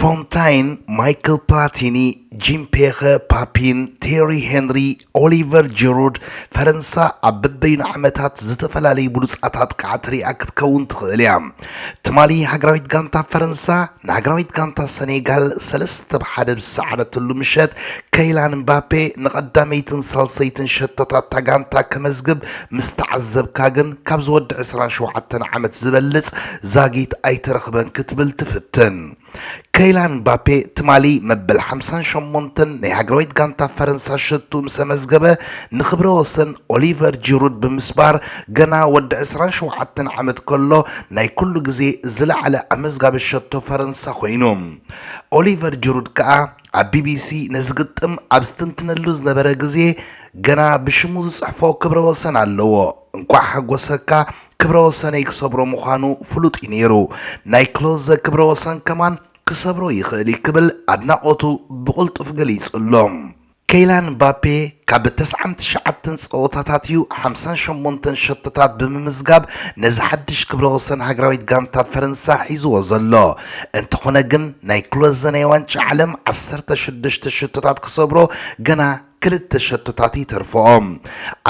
ፎንታይን፣ ማይክል ፕላቲኒ፣ ጂም ፔኸ፣ ፓፒን፣ ቴሪ ሄንሪ፣ ኦሊቨር ጂሩድ፣ ፈረንሳ ኣብ በበይኑ ዓመታት ዝተፈላለዩ ብሉፃት ኣጥቃዕቲ ሪኣ ክትከውን ትኽእል እያ። ትማሊ ሃገራዊት ጋንታ ፈረንሳ ንሃገራዊት ጋንታ ሰኔጋል ሰለስተ ብ ሓደ ብዝሰዓረትሉ ምሸት ከይላን ምባፔ ንቐዳመይትን ሳልሰይትን ሸቶታት እታ ጋንታ ከመዝግብ ምስ ተዓዘብካ ግን ካብ ዝወዲ 27 ዓመት ዝበልፅ ዛጊት ኣይተረኽበን ክትብል ትፍትን። ከይላን ምባፔ ትማሊ መበል ሓምሳን ሸሞንተን ናይ ሃገራዊት ጋንታ ፈረንሳ ሸቱ ምስ ኣመዝገበ ንክብረ ወሰን ኦሊቨር ጂሩድ ብምስባር ገና ወዲ ዕስራን ሸውዓተን ዓመት ከሎ ናይ ኩሉ ግዜ ዝለዓለ ኣመዝጋቢ ሸቶ ፈረንሳ ኮይኑ። ኦሊቨር ጂሩድ ከኣ ኣብ ቢቢሲ ነዚ ግጥም ኣብ ዝተንትነሉ ዝነበረ ግዜ ገና ብሽሙ ዝጽሕፎ ክብረ ወሰን ኣለዎ። እንኳዕ ሓጎሰካ ክብረ ወሰነይ ክሰብሮ ምዃኑ ፍሉጥ እዩ ነይሩ ናይ ክሎዘ ክብረ ወሰን ከማን ክሰብሮ ይኽእል እዩ ክብል ኣድናቖቱ ብቕልጡፍ ገሊጹ'ሎ። ከይላን ምባፔ ካብ ተስዓን ትሽዓተን ጸወታታት እዩ ሓምሳን ሸሞንተን ሸቶታት ብምምዝጋብ ነዚ ሓድሽ ክብረ ወሰን ሃገራዊት ጋንታ ፈረንሳ ሒዝዎ ዘሎ። እንተኾነ ግን ናይ ክሎዘ ናይ ዋንጫ ዓለም ዓሰርተ ሽዱሽተ ሽቶታት ክሰብሮ ገና ክልተ ሸቶታት ይተርፍኦም።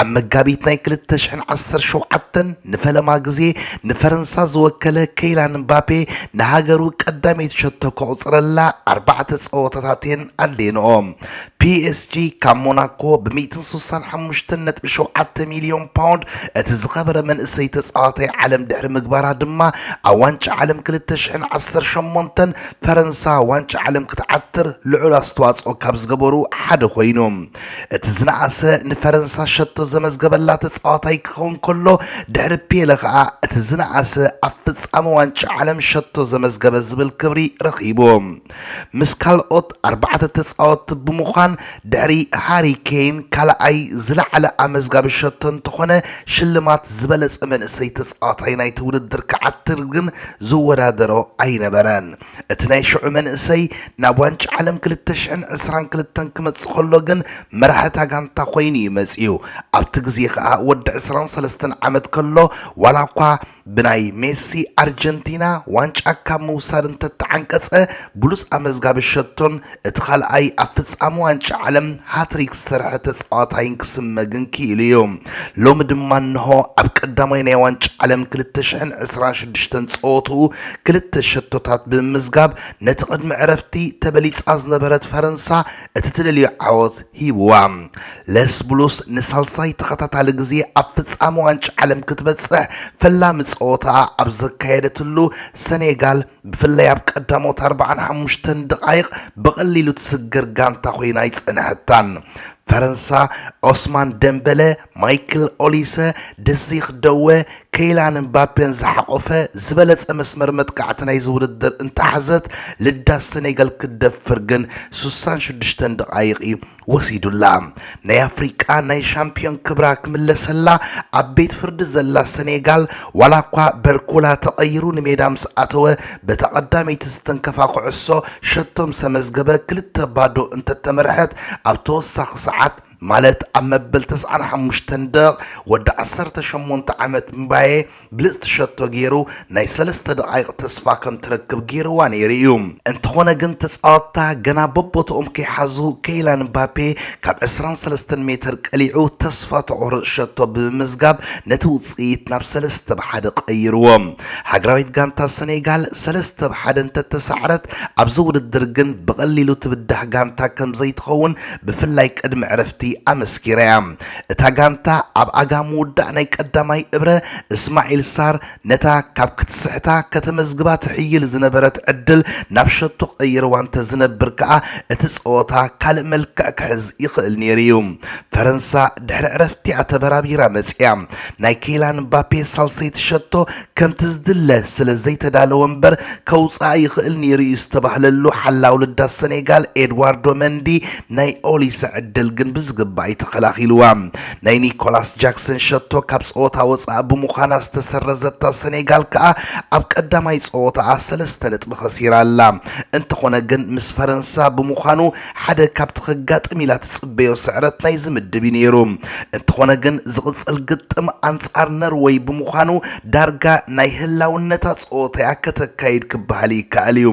ኣብ መጋቢት ናይ ክልተ ሽሕን ዓሰርተ ሸውዓተን ንፈለማ ግዜ ንፈረንሳ ዝወከለ ከይላን ምባፔ ንሃገሩ ቀዳመይቲ ሸቶ ከቑጽረላ ኣርባዕተ ጸወታታት እየን ኣድልየንኦ። ፒኤስጂ ካብ ሞናኮ ብ ሚእትን ሱሳን ሓሙሽተን ነጥቢ ሸውዓተ ሚልዮን ፓውንድ እቲ ዝኸበረ መንእሰይ ተጻዋታይ ዓለም ድሕሪ ምግባራ ድማ ኣብ ዋንጫ ዓለም ክልተ ሽሕን ዓሰርተ ሸሞንተን ፈረንሳ ዋንጫ ዓለም ክትዓትር ልዑል ኣስተዋፅኦ ካብ ዝገበሩ ሓደ ኮይኑ እቲ ዝነኣሰ ንፈረንሳ ሸቶ ዘመዝገበላ ተፃዋታይ ክኸውን ከሎ ድሕሪ ፔለ ከዓ እቲ ዝነኣሰ ኣብ ፍፃመ ዋንጫ ዓለም ሸቶ ዘመዝገበ ዝብል ክብሪ ረኺቡ ምስ ካልኦት ኣርባዕተ ተፃወትቲ ብምዃን ድሕሪ ሃሪ ኬን ካልኣይ ዝለዓለ ኣመዝጋቢ ሸቶ እንተኾነ ሽልማት ዝበለፀ መንእሰይ ተፃዋታይ ናይቲ ውድድር ክዓትር ግን ዝወዳደሮ ኣይነበረን። እቲ ናይ ሽዑ መንእሰይ ናብ ዋንጫ ዓለም ክልተ ሽሕን ዕስራን ክልተን ክመጽእ ከሎ ግን መራሒ እታ ጋንታ ኮይኑ'ዩ መጺኡ። ኣብቲ ግዜ ከኣ ወዲ ዕስራን ሰለስተን ዓመት ከሎ ዋላኳ ብናይ ሜሲ ኣርጀንቲና ዋንጫ ካብ ምውሳድ እንተተዓንቀጸ ብሉጽ ኣመዝጋቢ ሸቶን እቲ ካልኣይ ኣብ ፍጻመ ዋንጫ ዓለም ሃትሪክ ዝሰርሐ ተጻዋታይን ክስመ ግን ክኢሉ እዩ። ሎሚ ድማ እንሆ ኣብ ቀዳማይ ናይ ዋንጫ ዓለም 2026 ጸወትኡ ክልተ ሸቶታት ብምምዝጋብ ነቲ ቅድሚ ዕረፍቲ ተበሊጻ ዝነበረት ፈረንሳ እቲ ትደልዮ ዓወት ሂብዋ። ለስ ብሉስ ንሳልሳይ ተኸታታሊ ግዜ ኣብ ፍጻመ ዋንጫ ዓለም ክትበጽሕ ፈላሚ ጸወታኣ ኣብ ዘካየደትሉ ሰኔጋል ብፍላይ ኣብ ቀዳሞት ኣርባዓን ሓሙሽተን ደቓይቕ ብቐሊሉ ትስገር ጋንታ ኮይና ኣይጸንሐታን። ፈረንሳ ኦስማን ደምበለ፣ ማይክል ኦሊሰ፣ ደዚኽ ደወ፣ ከይላን እምባፔን ዝሓቖፈ ዝበለጸ መስመር መጥቃዕቲ ናይዚ ውድድር እንተሓዘት ልዳት ሰኔጋል ክትደፍር ግን ስሳን ሽዱሽተን ደቓይቕ እዩ ወሲዱላ ናይ ኣፍሪቃ ናይ ሻምፕዮን ክብራ ክምለሰላ ኣብ ቤት ፍርዲ ዘላ ሰኔጋል ዋላ እኳ በርኮላ ተቐይሩ ንሜዳ ምስ ኣተወ በታ ቀዳመይቲ ዝተንከፋ ኩዕሶ ሸቶ ምስ ኣመዝገበ ክልተ ባዶ እንተተመርሐት ኣብ ተወሳኺ ሰዓት ማለት ኣብ መበል ተስዓን ሓሙሽተን ደቕ ወዲ ዓሰርተ ሸሞንተ ዓመት ምባየ ብልጽቲ ሸቶ ጌሩ ናይ ሰለስተ ደቓይቕ ተስፋ ከም ትረክብ ጌርዋ ነይሩ እዩ። እንተኾነ ግን ተጻወትታ ገና በቦትኦም ከይሓዙ ከይላን ምባፔ ካብ ዕስራን ሰለስተን ሜተር ቀሊዑ ተስፋ ተቑርጽ ሸቶ ብምምዝጋብ ነቲ ውጽኢት ናብ ሰለስተ ብ ሓደ ቀይርዎ። ሃገራዊት ጋንታ ሰኔጋል ሰለስተ ብ ሓደ እንተተሳዕረት ኣብዚ ውድድር ግን ብቐሊሉ ትብዳህ ጋንታ ከም ዘይትኸውን ብፍላይ ቅድሚ ዕረፍቲ ኣመስኪራ እያ። እታ ጋንታ ኣብ ኣጋ ምውዳእ ናይ ቀዳማይ እብረ እስማዒል ሳር ነታ ካብ ክትስሕታ ከተመዝግባ ትሕይል ዝነበረት ዕድል ናብ ሸቶ ቀይርዋ እንተዝነብር ከኣ እቲ ጸወታ ካልእ መልክዕ ክሕዝ ይኽእል ነይሩ'ዩ። ፈረንሳ ድሕሪ ዕረፍቲ'ያ ተበራቢራ መጺኣ። ናይ ኬይላን ምባፔ ሳልሰይቲ ሸቶ ከምቲ ዝድለ ስለ ዘይተዳለወ እምበር ከውጽኣ ይኽእል ነይሩ'ዩ ዝተባህለሉ ሓላው ልዳት ሰኔጋል ኤድዋርዶ መንዲ ናይ ኦሊሰ ዕድል ግን ብዝግባእ'ዩ ተኸላኺሉዋ። ናይ ኒኮላስ ጃክሰን ሸቶ ካብ ጸወታ ወጻኢ ብምዃና ዝተሰረዘታ ሰኔጋል ከኣ ኣብ ቀዳማይ ጸወታኣ ሰለስተ ነጥቢ ከሲራ ኣላ። እንተኾነ ግን ምስ ፈረንሳ ብምዃኑ ሓደ ካብቲ ከጋጥም ኢላ ትጽበዮ ስዕረት ናይዚ ምድብ እዩ ነይሩ። እንተኾነ ግን ዝቕጽል ግጥም ኣንጻር ነርወይ ብምዃኑ ዳርጋ ናይ ህላውነታ ጸወታ እያ ከተካይድ ክበሃል ይከኣል እዩ።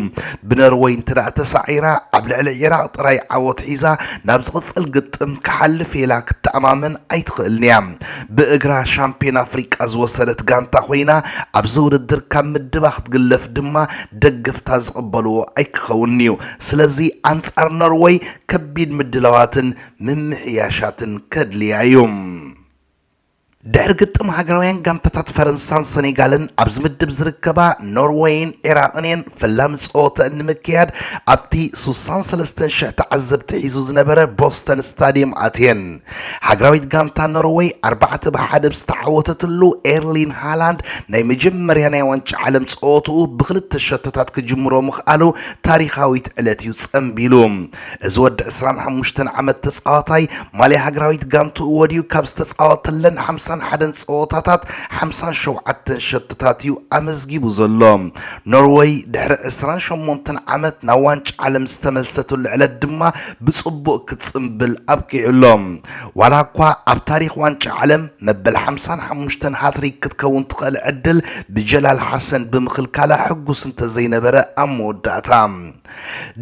ብነርወይ እንተደኣ ተሳዒራ ኣብ ልዕሊ ዒራቕ ጥራይ ዓወት ሒዛ ናብ ዝቕጽል ግጥም ክሓልፍ እየ ኢላ ክትተኣማመን ኣይትኽእልን እያ። ብእግራ ሻምፕዮን ኣፍሪቃ ዝወሰደት ጋንታ ኮይና ኣብዚ ውድድር ካብ ምድባ ክትግለፍ ድማ ደገፍታ ዝቕበልዎ ኣይክኸውንን'ዩ። ስለዚ ኣንጻር ኖርወይ ከቢድ ምድላዋትን ምምሕያሻትን ከድልያ'ዩ። ድሕሪ ግጥም ሃገራውያን ጋንታታት ፈረንሳን ሰኔጋልን ኣብዚ ምድብ ዝርከባ ኖርወይን ዒራቕን እየን ፈላሚ ጸወተአን ንምክያድ ኣብቲ 63 ሽሕ ተዓዘብቲ ሒዙ ዝነበረ ቦስተን ስታድየም ኣትየን። ሃገራዊት ጋንታ ኖርወይ ኣርባዕተ ብሓደ ብዝተዓወተትሉ ኤርሊን ሃላንድ ናይ መጀመርያ ናይ ዋንጫ ዓለም ፀወትኡ ብክልተ ሸቶታት ክጅምሮ ምኽኣሉ ታሪኻዊት ዕለት እዩ ፀንቢሉ እዚ ወዲ 25 ዓመት ተፃዋታይ ማልያ ሃገራዊት ጋንትኡ ወዲኡ ካብ ዝተፃወተለን 51 ፀወታታት 57 ሸቶታት እዩ ኣመዝጊቡ ዘሎ ኖርወይ ድሕሪ 28 ዓመት ናብ ዋንጫ ዓለም ዝተመልሰትሉ ዕለት ድማ ብጽቡቕ ክትጽንብል ኣብቂዑ ኣሎ። ዋላኳ ኣብ ታሪኽ ዋንጫ ዓለም መበል ሓምሳን ሓሙሽተን ሃትሪክ ክትከውን ትኽእል ዕድል ብጀላል ሓሰን ብምኽልካላ ሕጉስ እንተዘይነበረ ኣብ መወዳእታ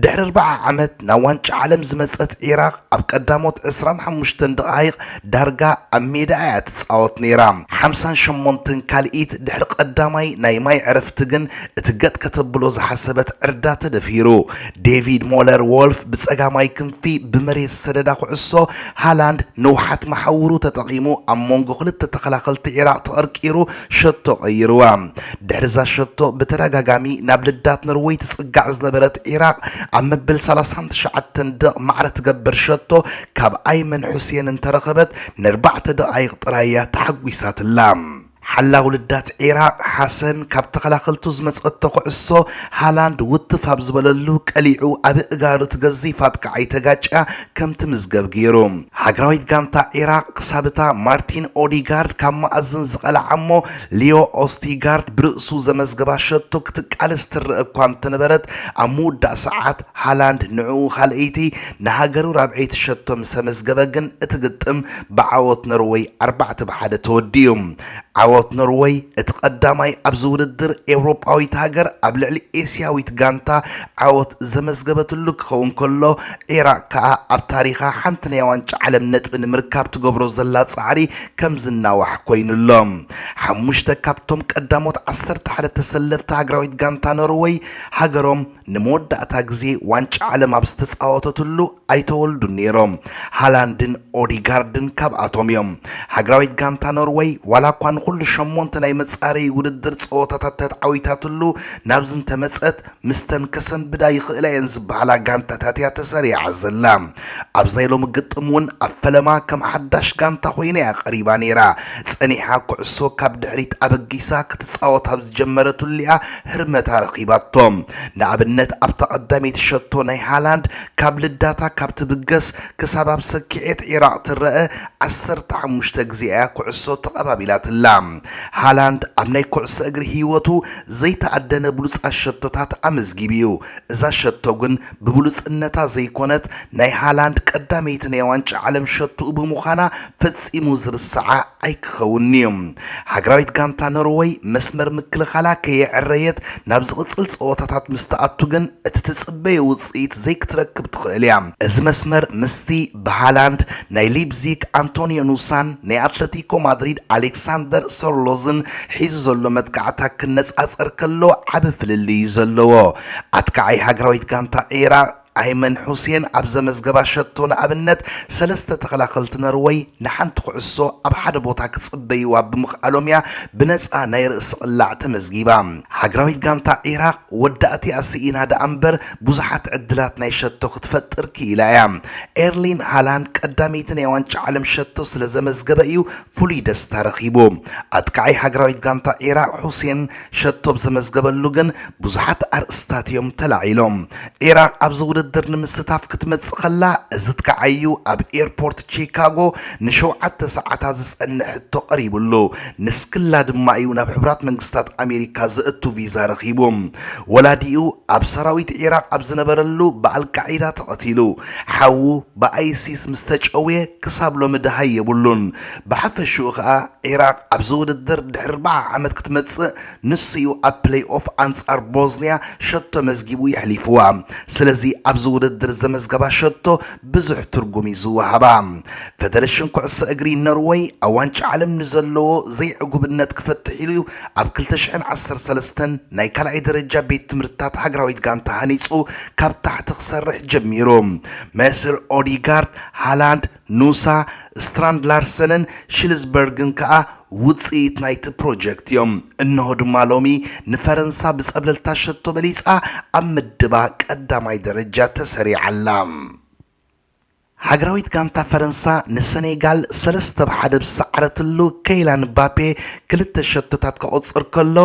ድሕሪ ኣርባዓ ዓመት ናብ ዋንጫ ዓለም ዝመጸት ዒራቕ ኣብ ቀዳሞት ዕስራን ሓሙሽተን ደቓይቕ ዳርጋ ኣብ ሜዳ እያ ትጻወት ነይራ። ሓምሳን ሸሞንተን ካልኢት ድሕሪ ቀዳማይ ናይ ማይ ዕረፍቲ ግን እቲ ገጥ ከተብሎ ዝሓሰበት ዕርዳ ተደፊሩ ዴቪድ ሞለር ዎልፍ ብጸጋማይ ክንፊ ብመሬት ዝሰደዳ ኩዕሶ ሃላንድ ንውሓት መሓውሩ ተጠቒሙ ኣብ መንጎ ክልተ ተኸላኸልቲ ዒራቕ ተቐርቂሩ ሸቶ ቀይርዋ። ድሕሪዛ ሸቶ ብተደጋጋሚ ናብ ልዳት ኖርወይ ትጽጋዕ ዝነበረት ዒራቕ ኣብ መበል ሰላሳን ትሽዓተን ደቕ ማዕረ ትገብር ሸቶ ካብ ኣይመን ሑሴን እንተረኸበት ነርባዕተ ደቓይቕ ጥራይ እያ ተሓጒሳትላ። ሓላዊ ልዳት ዒራቕ ሓሰን ካብ ተኸላኸልቱ ዝመጸቶ ኩዕሶ ሃላንድ ውትፍ ኣብ ዝበለሉ ቀሊዑ ኣብ እእጋሩ እቲ ገዚፍ ኣጥቃዓይ ተጋጭያ ከም ትምዝገብ ገይሩ። ሃገራዊት ጋንታ ዒራቕ ክሳብ እታ ማርቲን ኦዲጋርድ ካብ መኣዝን ዝቐልዓ እሞ ሊዮ ኦስቲጋርድ ብርእሱ ዘመዝገባ ሸቶ ክትቃለስ ትረኣ እኳ እንተነበረት ኣብ ምውዳእ ሰዓት ሃላንድ ንዕኡ ካልኣይቲ ንሃገሩ ራብዐይቲ ሸቶ ምስ ኣመዝገበ ግን እቲ ግጥም ብዓወት ኖርወይ ኣርባዕተ ብ ሓደ ተወዲኡ። ዓወት ኖርወይ እቲ ቀዳማይ ኣብዚ ውድድር ኤውሮጳዊት ሃገር ኣብ ልዕሊ ኤስያዊት ጋንታ ዓወት ዘመዝገበትሉ ክኸውን ከሎ ዒራቕ ከኣ ኣብ ታሪኻ ሓንቲ ናይ ዋንጫ ዓለም ነጥቢ ንምርካብ ትገብሮ ዘላ ጻዕሪ ከም ዝናዋሕ ኮይኑ ኣሎ። ሓሙሽተ ካብቶም ቀዳሞት ዓሰርተ ሓደ ተሰለፍቲ ሃገራዊት ጋንታ ኖርወይ ሃገሮም ንመወዳእታ ግዜ ዋንጫ ዓለም ኣብ ዝተጻወተትሉ ኣይተወልዱን ነይሮም። ሃላንድን ኦዲጋርድን ካብኣቶም እዮም። ሃገራዊት ጋንታ ኖርወይ ዋላኳ ንኹሉ ሸሞንተ ናይ መጻረዪ ውድድር ጸወታታት ተትዓዊታትሉ ናብዚ እንተመጸት ምስተን ከሰንብዳ ይኽእላ እየን ዝበሃላ ጋንታታት እያ ተሰሪዓ ዘላ። ኣብዚ ናይ ሎሚ ግጥም እውን ኣብ ፈለማ ከም ሓዳሽ ጋንታ ኮይና እያ ቀሪባ ነይራ። ጸኒሓ ኩዕሶ ካብ ድሕሪት ኣበጊሳ ክትጻወት ኣብ ዝጀመረትሉ እያ ህርመታ ረኺባቶ። ንኣብነት ኣብታ ቀዳመይቲ ሸቶ ናይ ሃላንድ ካብ ልዳታ ካብ ትብገስ ክሳብ ኣብ ሰኪዔት ዒራቕ ትረኣ ዓሰርተ ሓሙሽተ ግዜ እያ ኩዕሶ ተቐባቢላትላ። ሃላንድ ኣብ ናይ ኩዕሶ እግሪ ህይወቱ ዘይተኣደነ ብሉጻት ሸቶታት ኣመዝጊቡ እዩ። እዛ ሸቶ ግን ብብሉጽነታ ዘይኮነት ናይ ሃላንድ ቀዳመይቲ ናይ ዋንጫ ዓለም ሸቶኡ ብምዃና ፈጺሙ ዝርሰዓ ኣይክኸውንን'ዩ። ሃገራዊት ጋንታ ኖርወይ መስመር ምክልኻላ ከየዐረየት ናብ ዝቕጽል ጸወታታት ምስ ትኣቱ ግን እቲ ትጽበዮ ውጽኢት ዘይክትረክብ ትኽእል'ያ። እዚ መስመር ምስቲ ብሃላንድ ናይ ሊፕዚግ ኣንቶንዮ ኑሳን ናይ ኣትለቲኮ ማድሪድ ኣሌክሳንደር ሶርሎዝን ሒዙ ዘሎ መጥቃዕታ ክነጻጸር ከሎ ዓቢ ፍልልይ'ዩ ዘለዎ። ኣጥቃዓይ ሃገራዊት ጋንታ ዒራቕ ኣይመን ሑሴን ኣብ ዘመዝገባ ሸቶ ንኣብነት ሰለስተ ተኸላኸልቲ ነርወይ ንሓንቲ ኩዕሶ ኣብ ሓደ ቦታ ክጽበይዋ ብምኽኣሎም'ያ ብነጻ ናይ ርእሲ ቅላዕ ተመዝጊባ። ሃገራዊት ጋንታ ዒራቕ ወዳእቲኣ ስኢና ደኣምበር ብዙሓት ዕድላት ናይ ሸቶ ክትፈጥር ክኢላ'ያ። ኤርሊን ሃላንድ ቀዳመይቲ ናይ ዋንጫ ዓለም ሸቶ ስለዘመዝገበ'ዩ ፍሉይ ደስታ ረኺቡ። ኣጥቃዓይ ሃገራዊት ጋንታ ዒራቕ ሑሴን ሸቶ ብ ዘመዝገበሉ ግን ብዙሓት ኣርእስታት እዮም ተላዒሎም። ዒራቕ ኣብዚ ውድድር ንምስታፍ ክትመጽእ ከላ እዝትከዓዩ ኣብ ኤርፖርት ቺካጎ ንሸውዓተ ሰዓታት ዝጸንሕ ሕቶ ቀሪብሉ። ንስክላ ድማ እዩ ናብ ሕቡራት መንግስታት ኣሜሪካ ዘእቱ ቪዛ ረኺቡ። ወላዲኡ ኣብ ሰራዊት ዒራቕ ኣብ ዝነበረሉ ብኣልቃዒዳ ተቐቲሉ። ሓዉ ብኣይሲስ ምስ ተጨውየ ክሳብ ሎሚ ደሃይ የብሉን። ብሓፈሽኡ ከኣ ዒራቕ ኣብዚ ውድድር ድሕሪ ኣርባዓ ዓመት ክትመጽእ ንሱ'ዩ ኣብ ፕለይኦፍ ኣንጻር ቦዝንያ ሸቶ መዝጊቡ የሕሊፍዋ። ስለዚ ኣብዚ ውድድር ዘመዝገባ ሸቶ ብዙሕ ትርጉም'ዩ ዝወሃባ። ፈደረሽን ኩዕሶ እግሪ ኖርወይ ኣብ ዋንጫ ዓለም ንዘለዎ ዘይዕጉብነት ክፈትሕ ኢሉ'ዩ ኣብ ክልተ ሽሕን ዓሰርተ ሰለስተን ናይ ካልኣይ ደረጃ ቤት ትምህርትታት ሃገራዊት ጋንታ ሃኒጹ ካብ ታሕቲ ክሰርሕ ጀሚሩ። መሰር ኦዲጋርድ፣ ሃላንድ፣ ኑሳ፣ ስትራንድ ላርሰንን ሽልዝበርግን ከኣ ውጽኢት ናይቲ ፕሮጀክት እዮም። እነሆ ድማ ሎሚ ንፈረንሳ ብጸብለልታ ሸቶ በሊጻ ኣብ ምድባ ቀዳማይ ደረጃ ተሰሪዓ ኣላ። ሃገራዊት ጋንታ ፈረንሳ ንሰኔጋል ሰለስተ ብ ሓደ ብዝሰዓረትሉ ከይላን ምባፔ ክልተ ሸቶታት ከቑጽር ከሎ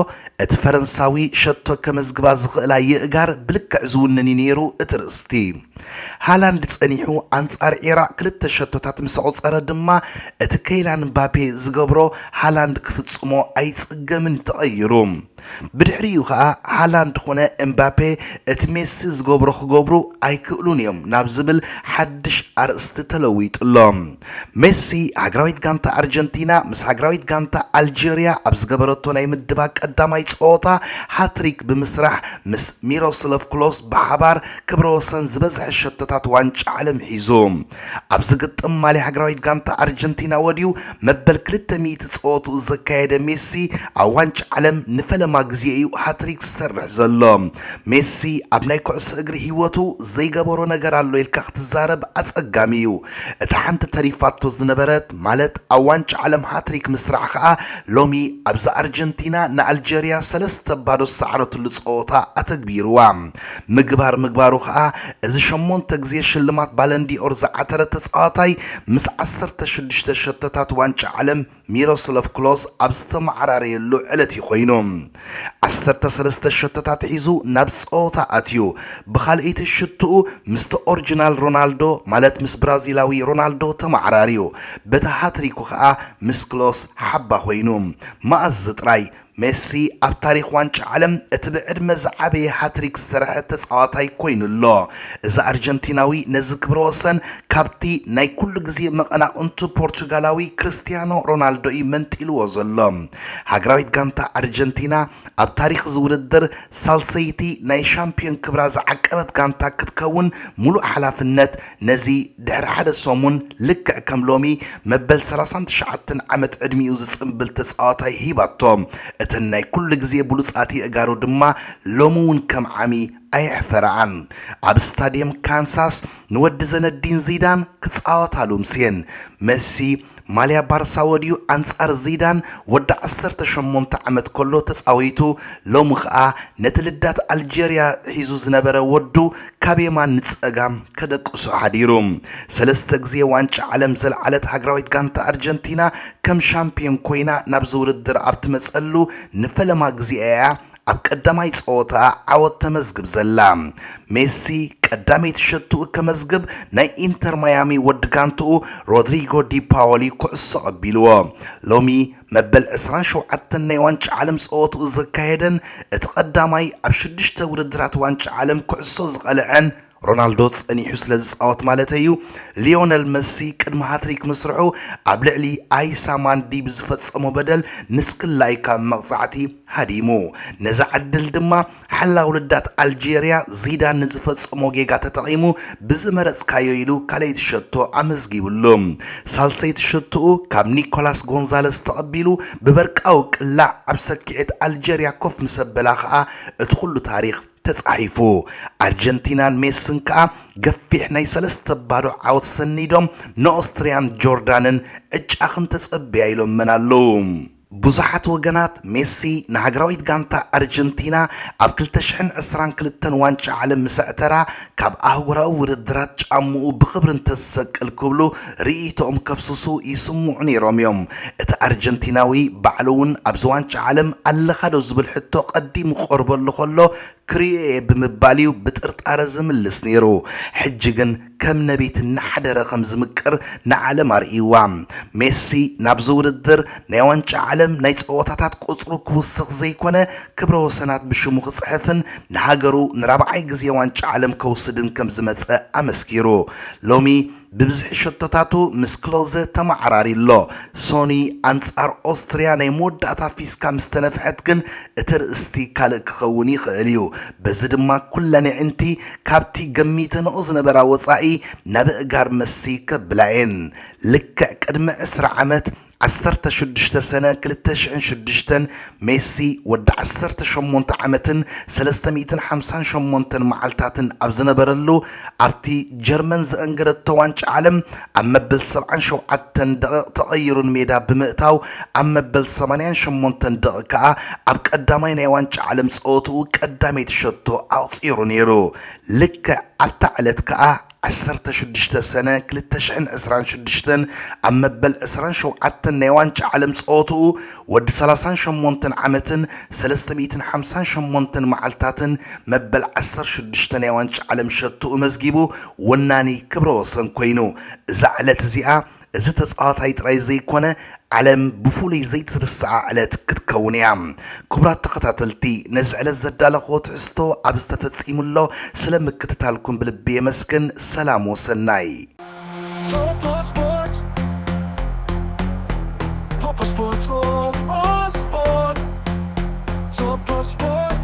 እቲ ፈረንሳዊ ሸቶ ከመዝግባ ዝኽእላ የእጋር ብልክዕ ዝውንን እዩ ነይሩ እቲ ርእስቲ። ሃላንድ ጸኒሑ ኣንጻር ዒራቕ ክልተ ሸቶታት ምስ ኣቑጸረ ድማ እቲ ከይላን ምባፔ ዝገብሮ ሃላንድ ክፍጽሞ ኣይጽገምን ተቐይሩ። ብድሕሪኡ ከኣ ሃላንድ ኮነ እምባፔ እቲ ሜሲ ዝገብሮ ክገብሩ ኣይክእሉን እዮም ናብ ዝብል ሓድሽ ኣርእስቲ ተለዊጡ ኣሎ። ሜሲ ሃገራዊት ጋንታ ኣርጀንቲና ምስ ሃገራዊት ጋንታ ኣልጀርያ ኣብ ዝገበረቶ ናይ ምድባ ቀዳማይ ጸወታ ሃትሪክ ብምስራሕ ምስ ሚሮስሎቭ ክሎስ ብሓባር ክብረ ወሰን ዝበዝሐ ሸቶታት ዋንጫ ዓለም ሒዙ ኣብ ዝግጥም ማልያ ሃገራዊት ጋንታ ኣርጀንቲና ወድዩ መበል ክልተ ሚእቲ ጸወትኡ ዘካየደ ሜሲ ኣብ ዋንጫ ዓለም ንፈለማ ግዜ እዩ ሃትሪክ ዝሰርሕ ዘሎ። ሜሲ ኣብ ናይ ኩዕሶ እግሪ ህይወቱ ዘይገበሮ ነገር ኣሎ ኢልካ ክትዛረብ ኣጸጋሚ እዩ። እታ ሓንቲ ተሪፋቶ ዝነበረት ማለት ኣብ ዋንጫ ዓለም ሃትሪክ ምስራሕ ከኣ ሎሚ ኣብዛ ኣርጀንቲና ንኣልጀርያ ሰለስተ ባዶ ዝሰዓረትሉ ጸወታ ኣተግቢሩዋ። ምግባር ምግባሩ ከኣ እዚ ሸሞንተ ግዜ ሽልማት ባለንዲ'ኦር ዝዓተረ ተጻዋታይ ምስ ዓሰርተ ሽዱሽተ ሸቶታት ዋንጫ ዓለም ሚሮስሎቭ ክሎዝ ኣብ ዝተመዓራረየሉ ዕለት'ዩ ኮይኑ። ዓሰርተ ሰለስተ ሸቶታት ሒዙ ናብ ጸወታ ኣትዩ፣ ብኻልኣይቲ ሽቶኡ ምስቲ ኦርጅናል ሮናልዶ ማለት ምስ ብራዚላዊ ሮናልዶ ተመዓራርዩ፣ በታ ሃትሪኩ ከኣ ምስ ክሎስ ሓባ ኮይኑ። መኣዝዚ ጥራይ! ሜሲ ኣብ ታሪኽ ዋንጫ ዓለም እቲ ብዕድመ ዝዓበየ ሃትሪክ ዝሰርሐ ተጻዋታይ ኮይኑ ኣሎ። እዚ ኣርጀንቲናዊ ነዚ ክብረ ወሰን ካብቲ ናይ ኩሉ ግዜ መቐናቕንቱ ፖርቹጋላዊ ክርስትያኖ ሮናልዶ እዩ መንጢልዎ ዘሎ። ሃገራዊት ጋንታ ኣርጀንቲና ኣብ ታሪኽ እዚ ውድድር ሳልሰይቲ ናይ ሻምፕዮን ክብራ ዝዓቀበት ጋንታ ክትከውን ሙሉእ ሓላፍነት ነዚ ድሕሪ ሓደ ሰሙን ልክዕ ከም ሎሚ መበል ሰላሳን ትሽዓተን ዓመት ዕድሚኡ ዝጽንብል ተጻዋታይ ሂባቶ። እተን ናይ ኩሉ ግዜ ብሉጻት የእጋሩ ድማ ሎሚ እውን ከም ዓሚ ኣየሕፈረኣን። ኣብ ስታድየም ካንሳስ ንወዲ ዘነዲን ዚዳን ክጻወታሉ ምስየን። መሲ ማልያ ባርሳ ወድዩ ኣንጻር ዚዳን ወዲ ዓሰርተ ሸሞንተ ዓመት ከሎ ተጻዊቱ ሎሚ ከኣ ነቲ ልዳት ኣልጀርያ ሒዙ ዝነበረ ወዱ ካብ የማን ንጸጋም ከደቅሶ ሓዲሩ። ሰለስተ ግዜ ዋንጫ ዓለም ዘልዓለት ሃገራዊት ጋንታ ኣርጀንቲና ከም ሻምፕዮን ኮይና ናብዚ ውድድር ኣብ ትመጸሉ ንፈለማ ግዜኣ እያ ኣብ ቀዳማይ ጸወታ ዓወት ተመዝግብ ዘላ ሜሲ ቀዳመይቲ ሸትኡ ከመዝግብ ናይ ኢንተር ማያሚ ወዲ ጋንትኡ ሮድሪጎ ዲፓወሊ ኩዕሶ ቀቢልዎ ሎሚ መበል 27 ናይ ዋንጫ ዓለም ጸወትኡ ዘካየደን እቲ ቀዳማይ ኣብ ሽዱሽተ ውድድራት ዋንጫ ዓለም ኩዕሶ ዝቐልዐን ሮናልዶ ጸኒሑ ስለ ዝጻወት ማለተይ'ዩ፣ ሊዮነል መሲ ቅድሚ ሃትሪክ ምስርሑ ኣብ ልዕሊ ኣይሳ ማንዲ ብዝፈጸሞ በደል ንስክላይ ካብ መቕጻዕቲ ሃዲሙ። ነዛ ዕድል ድማ ሓላዊ ልዳት ኣልጀርያ ዚዳን ንዝፈጸሞ ጌጋ ተጠቒሙ ብዝመረጽካዮ ኢሉ ካልኣይቲ ሸቶ ኣመዝጊብሉ። ሳልሰይቲ ሸቶኡ ካብ ኒኮላስ ጎንዛለስ ተቐቢሉ ብበርቃዊ ቅላዕ ኣብ ሰኪዔት ኣልጀርያ ኮፍ ምስ ኣበላ ከኣ እቲ ኩሉ ታሪኽ ተጻሒፉ። ኣርጀንቲናን ሜስን ከኣ ገፊሕ ናይ ሰለስተ ባዶ ዓወት ሰኒዶም ንኦስትርያን ጆርዳንን ዕጫ ክንተጸብያ ኢሎመን ኣለዉ። ብዙሓት ወገናት ሜሲ ንሃገራዊት ጋንታ ኣርጀንቲና ኣብ ክልተ ሽሕን ዕስራን ክልተን ዋንጫ ዓለም ምስ ኣዕተራ ካብ ኣህጉራዊ ውድድራት ጫምኡ ብኽብሪ እንተዝሰቅል ክብሉ ርእይቶኦም ከፍስሱ ይስምዑ ነይሮም እዮም። እቲ ኣርጀንቲናዊ ባዕሉ'ውን ኣብዚ ዋንጫ ዓለም ኣለኻዶ ዝብል ሕቶ ቀዲሙ ክቐርበሉ ከሎ ክርእዮ'የ ብምባል'ዩ ብጥርጣረ ዝምልስ ነይሩ። ሕጂ ግን ከም ነብዪት እናሓደረ ከም ዝምቅር ንዓለም ኣርእዩዋ። ሜሲ ናብዚ ውድድር ናይ ዋንጫ ዓለም ናይ ጸወታታት ቁጽሩ ክውስኽ ዘይኮነ ክብረ ወሰናት ብሽሙ ክጽሕፍን ንሃገሩ ንራብዓይ ግዜ ዋንጫ ዓለም ከውስድን ከም ዝመጸ ኣመስኪሩ ሎሚ ብብዝሒ ሸቶታቱ ምስ ክሎዘ ተመዓራርዩ ኣሎ። ሶኒ ኣንጻር ኦስትርያ ናይ መወዳእታ ፊስካ ምስ ተነፍሐት ግን እቲ ኣርእስቲ ካልእ ክኸውን ይኽእል እዩ። በዚ ድማ ኩለን ኣዒንቲ ካብቲ ገሚተንኦ ዝነበራ ወጻኢ ናብ ኣእጋር መሲ ከብላ'የን። ልክዕ ቅድሚ ዕስራ ዓመት ዓሰርተ ሽዱሽተ ሰነ ክልተ ሽሕን ሽዱሽተን፣ ሜሲ ወዲ ዓሰርተ ሸሞንተ ዓመትን ሰለስተ ሚእትን ሓምሳን ሸሞንተን መዓልታትን ኣብ ዝነበረሉ ኣብቲ ጀርመን ዘአንገደቶ ዋንጫ ዓለም ኣብ መበል ሰብዓን ሸውዓተን ደቒቕ ተቐይሩ ንሜዳ ብምእታው ኣብ መበል ሰማንያን ሸሞንተን ደቒቕ ከኣ ኣብ ቀዳማይ ናይ ዋንጫ ዓለም ጸወትኡ ቀዳመይቲ ሸቶ ኣቑጺሩ ነይሩ። ልክዕ ኣብታ ዕለት ከኣ ዓሰርተ ሽዱሽተ ሰነ ክልተ ሽሕን ዕስራን ሽዱሽተን ኣብ መበል ዕስራን ሸውዓተን ናይ ዋንጫ ዓለም ጸወትኡ ወዲ ሰላሳን ሸሞንተን ዓመትን ሰለስተ ሚእትን ሓምሳን ሸሞንተን መዓልታትን መበል ዓሰርተ ሽዱሽተ ናይ ዋንጫ ዓለም ሸቶኡ መዝጊቡ ወናኒ ክብረ ወሰን ኮይኑ እዛ ዕለት እዚኣ እዚ ተጻዋታይ ጥራይ ዘይኮነ ዓለም ብፍሉይ ዘይትርሳዓ ዕለት ክትከውን እያ። ክቡራት ተኸታተልቲ ነዚ ዕለት ዘዳለኽዎ ትሕዝቶ ኣብ ዝተፈጺሙ ኣሎ ስለ ምክትታልኩም ብልቢ የመስግን ሰላም ወሰናይ። Topos Sport